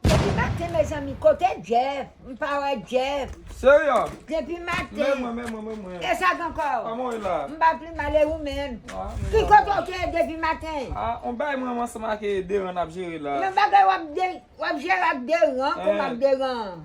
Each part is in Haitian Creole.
Depi maten mezanmi kote Jeff m pa wè Jeff. Seria. Depi maten. Men mwen men mwen men mwen. Esak ankò. Kòman ou ye la. M pa pli mal e ou menm. Ah mwen. Ki kote ou te ye depi maten. Ah on bagay mwen ansanm ak Deran nap jere la. Yon bagay wap jere ak Deran kòman ak Deran.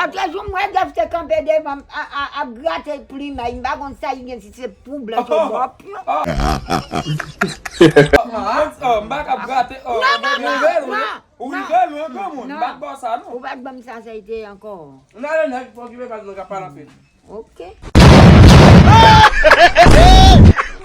Atrè jou m wè Dèf te kanpe devan m ap grate plimay m pa konn sa li gen si se pou blanch ou mòp yo. Non non non non ou pa t ban m sa sa ete ankò. Ok.